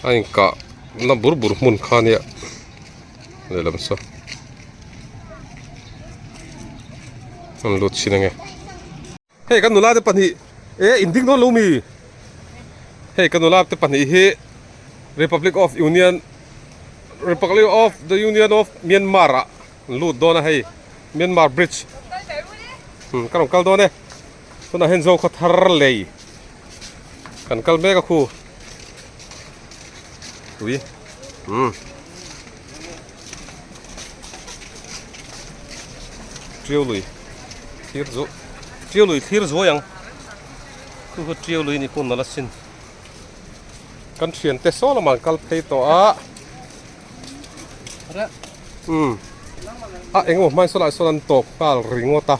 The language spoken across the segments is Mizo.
a in kah na bur bur hmun kha nia lehlam saw an lut chin ange hei ka nula te pahnih e in ding dawn lo mi hei ka nula te pahnih hi republic of union republic of the union of myanmar ah an lut dawn a hei myanmar bridge ka rawn kal dawn e. Tunah hian zo khaw thar lei kan kal mek a khu. Tui. Hmm. Triau lui. Thir zu. Triau lui thir zuai ang. Khu khu triau lui ni pun nala sin. Kan thian te so lama kal phei to a. Hmm. A engo mai so lai so nan tok kal ringota.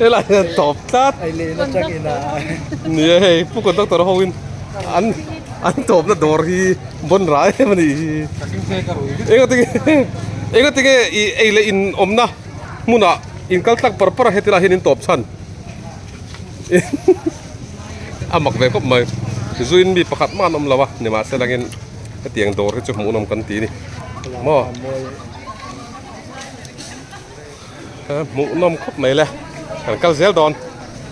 helai hian tawp tlat nia hei pu conductor ho in an an tawpna dawr hi bawn ra em anih hi enga tinge enga tinge i ei leh in awmna hmuna in kal tak par par a hetilah hian in tawp chhan a mak ve khawp mai zui in mi pakhat mahna awm lo a ni mahse langin hetiang dawr hi chu hmuhnawm kan ti a ni maw. hmuh nawm khawp mai le kan kal zel dawn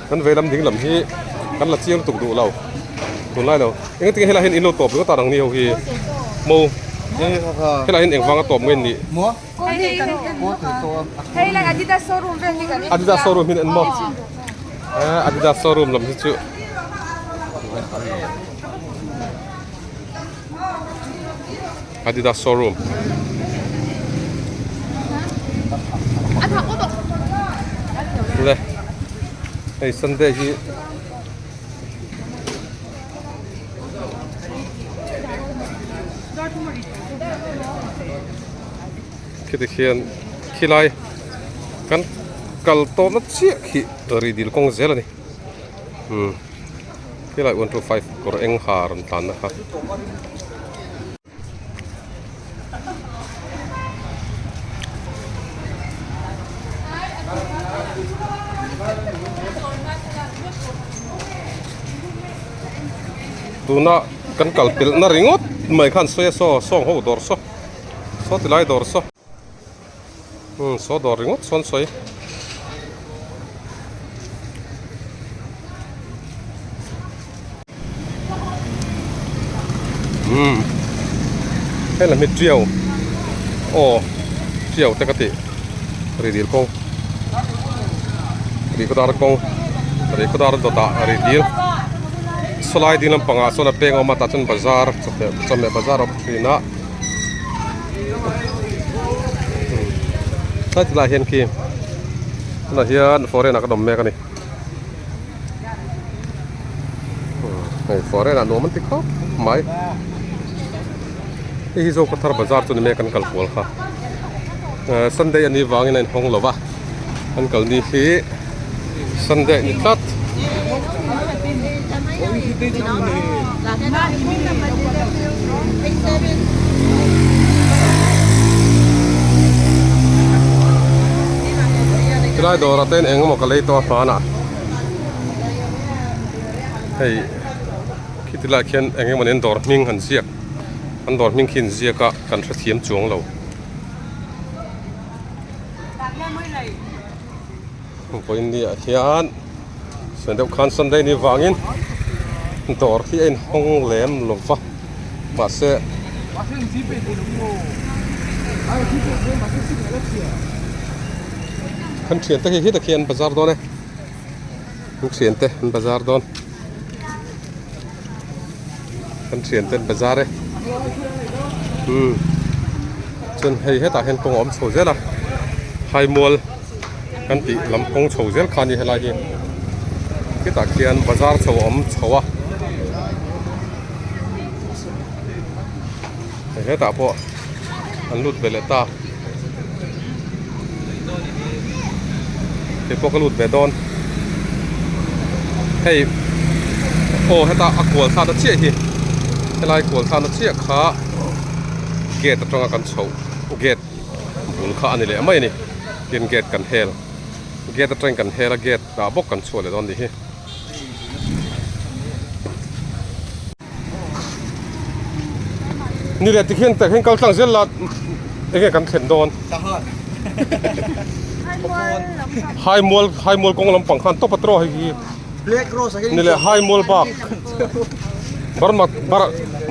kan veilam ding lam hi kan la chiang lutuk duh lo tun lai lo engtin nge helaiah hian in lo tawp ringawt a rang ni ho hi mo helaiah hian eng vanga tawp nge nih Adidas showroom hi nen maw Adidas showroom lam hi chu Adidas showroom le hei Sunday hi khiti khian khilai kan kal tawhna chiah khi ri dil kawng zel a ni. umm tilai one two five kawr eng ha a rawn tlan a tuna kan kalpelh na ringawt mai khan sawi a saw a sawng ho dawr saw saw tilai dawr saw. Umm saw dawr ringawt sawn sawi. Umm heng lam hi tiau aw tiau te ka ti ri dil kawng ri khawdar kawng ri khawdar dawt ah ri dil saw lai ding lam pang ah sawn a peng a awm a tah chuan bazar chawhmeh bazar awm thin a. tlai tunah hian khi tunah hian foreign ah ka nawm mek a ni hei foreign ah nuam an ti khawp mai hei hi zawk a thar bazar chu ni maia kan kal kual kha sunday a nih vangin a inhawng lova. an kal ni hi Sunday a ni tlat. Tilai dawr ate'n eng emaw ka lei tawh a hmana hei khiti lai khian eng emaw nen dawr hming han ziak an dawr hming khi inziak a kan hrethiam chuang lo. Vawngkaw India ah hian suan deuh khan Sunday ni vangin dawr hi a inhawng lem lo va, mahse an thian te hi hi takhian an bazar dawn e, an thian te an bazar dawn. kan thian ten bazar e umm chuan hei hetah hian kawng a awm chho zel a haimawll kan tih lam kawng chho zel kha a ni helai hi hetah khian bazar chho a awm chho a. Hetah pawh an lut ve leh ta. Kei pawh ka lut ve dawn. Hei aw heta a kual sa na chiah hi. Helai kual sa na chiah kha gate atanga kan chho gate bul kha ani leh mai a ni. Tin gate kan hel gate atang kan hel a gate ah bawk kan chhuah leh dawn ni hi. Ni leh ti khian takhian kal tlang zel la enge kan thlen dawn Hai mual hai mual kawng lampang khan topa tawh hei hi Ni leh hai mual bak Burma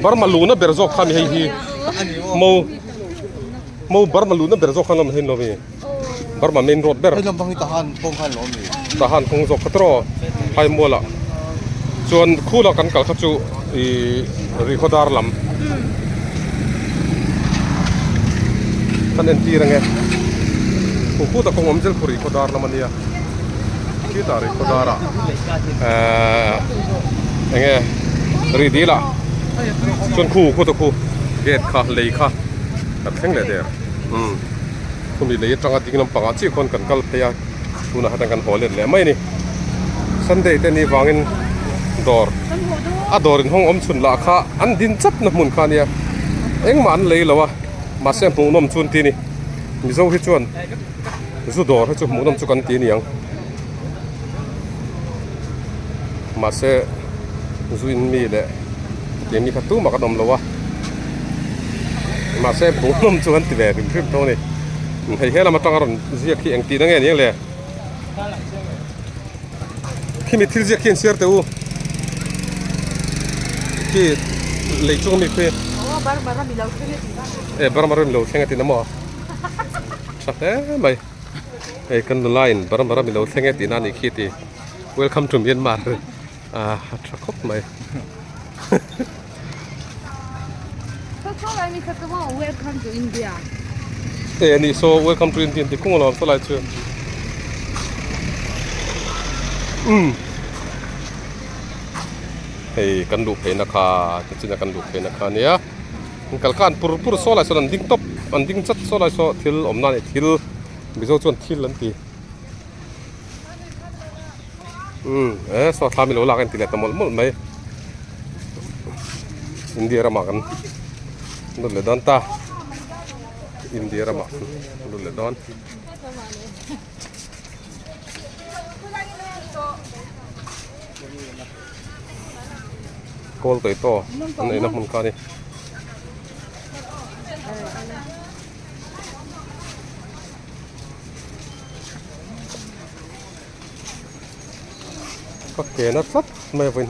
Burma luhna ber zawk khan hei hi Mo Mo Burma luhna ber zawk khan a ni lo mi. Burma main road ber tahan kawng zawk khat rawh hai mual ah chuan khu la kan kal kha chu i rihaw dar lam kan en tir ange khu khu ta kawng awm zel khu rihaw dar lam ania khi ta rihaw dar ah enge ridil ah chuan khu khu ta khu gate kha lei kha a thleng leh der. Khumi lei atanga ding lampang ah chiah khawn kan kal phei a, tunah hetiang kan haw let leh mai a ni. Sunday te ni vangin dawr a dawr inhawng awm chhun lah kha an din chap na hmun kha nia engmah an lei lo a, mahse hmuhnawm chu an ti a ni. Mizo hi chuan zu dawr hi chu hmuhnawm chu kan ti a ni ang. mahse zuin mi leh ke mi kha tumah kan awm lo a mahse bungrawn chu kan ti ve rim rim tho a ni in hei helam atanga a rawn ziak hi engtin ange aniang le khimi thil ziak hian share teh u khi lei chung ami khi eh bar bar a mi lo thleng atin a maw tha hle mai. hei kan nula in varam varam ilo thleng e tihna anih khi tih welcome to Myanmar ah a tha khawp mai welcome to India e ani so welcome to India ti kung alawm salai chu um hei kan luh pheina kha te china kan luh pheina kha nia an kalh khan pur pur saw lai sawn an ding tawp an ding chat saw lai saw thil awmna a nih thil mizo chuan thil an ti umm e saw thlam i lo lak a en tih leh ta mawlh mawlh mai India ramah kan lut leh dawn ta India ramah kan lut leh dawn Call kaih tawh an neihna hmun kha ni. Ka kena tlat mai vawin.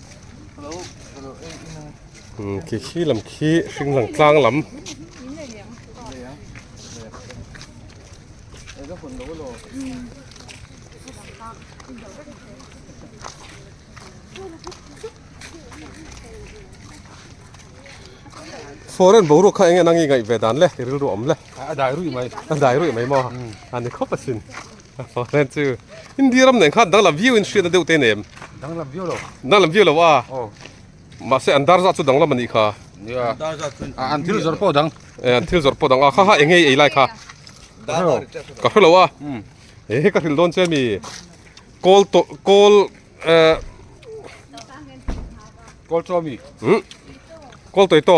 khi khi lam khi hring lam tlang lam foreign bo ru kha enge nang ngai ve dan le rilru awm le a dai rui mai a dai rui mai maw ani khawp asin. Hawllen chu India ram nen khan danglam viau in hriat na deuh te nem. Danglam viau lo. Danglam viau lo a. Oh. Mase an dar za chu danglam ani kha. Ya. An dar za chu an thil zor po dang. Eh an thil zor po dang a kha ha eng hei ei lai kha. Dar lo. Ka hre lo a. Hmm. Eh ka thil don che mi. Kol to kol eh Kol to mi. Hmm. Kol toi to.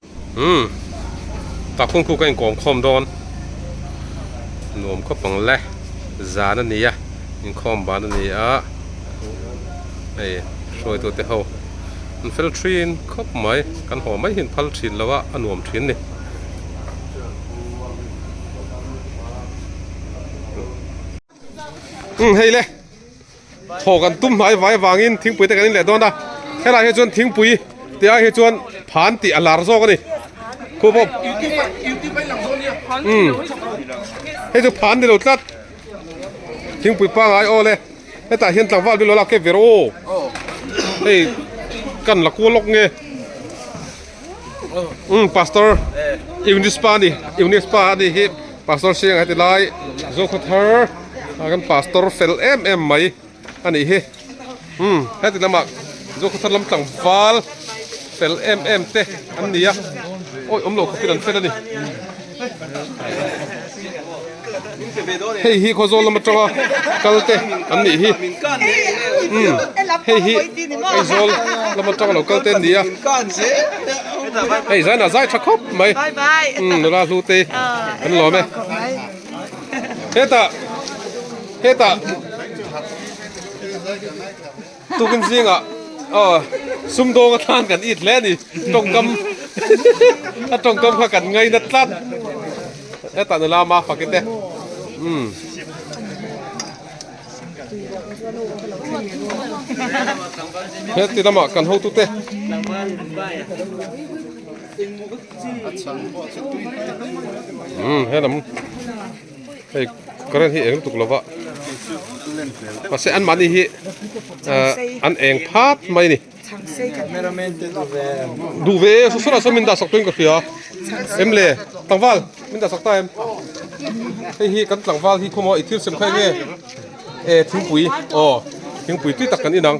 Umm ka phungphuk a inkawm khawm dawn nuam khawp ang le zan a nia inkhawm ban a nia hei hruaitu te ho an fel thin khawp mai kan haw mai hian phal thin lo a a nuam thin ni umm. Hei le, thaw kan tum hnai vai avangin thingpui te kan inleh dawn a, helai hi chuan thingpui te ah hi chuan phan tih a lar zawk a ni, khu pawh umm hei chu phan ni lo tlat, thingpui pangngai aw le, hetah hian tlangval bial lo lak kep ve rawh aw, hei kan la kual lawk nge. Umm pastor Eunice pa ani Eunice pa ani hi pastor siang heti lai zokhaw thar a kan pastor fel em em mai ani hi umm heti lama zokhaw thar lam tlangval fel em em te an ni a awih awmloh khaw filah an fel ani. Hei hi khaw zawl lam atanga kalte an nih hi umm hei hi aizawl lam atanga lo kalte an ni a hei zan ah zai tha khawp mai umm nula hlu te an lawm e hetah hetah. Tukin zingah sumdawng a thlan kan it hle a ni. Tawngkam a tawngkam kha kan ngai nat tlat. Heta nu lama fakit e. Heti lama kan hotu te. He lam. Hei current hi eng lutuk lo va, mahse anmahni hi an eng phat mai a ni. Duh ve e, Susana saw min dah sak tuin ka hria. Em le, tlangval min dah sak ta em? Hei hi kan tlangval hi khaw maw, i thilsem kha enge? E, thingpui, aw, thingpui tui tak kan inang.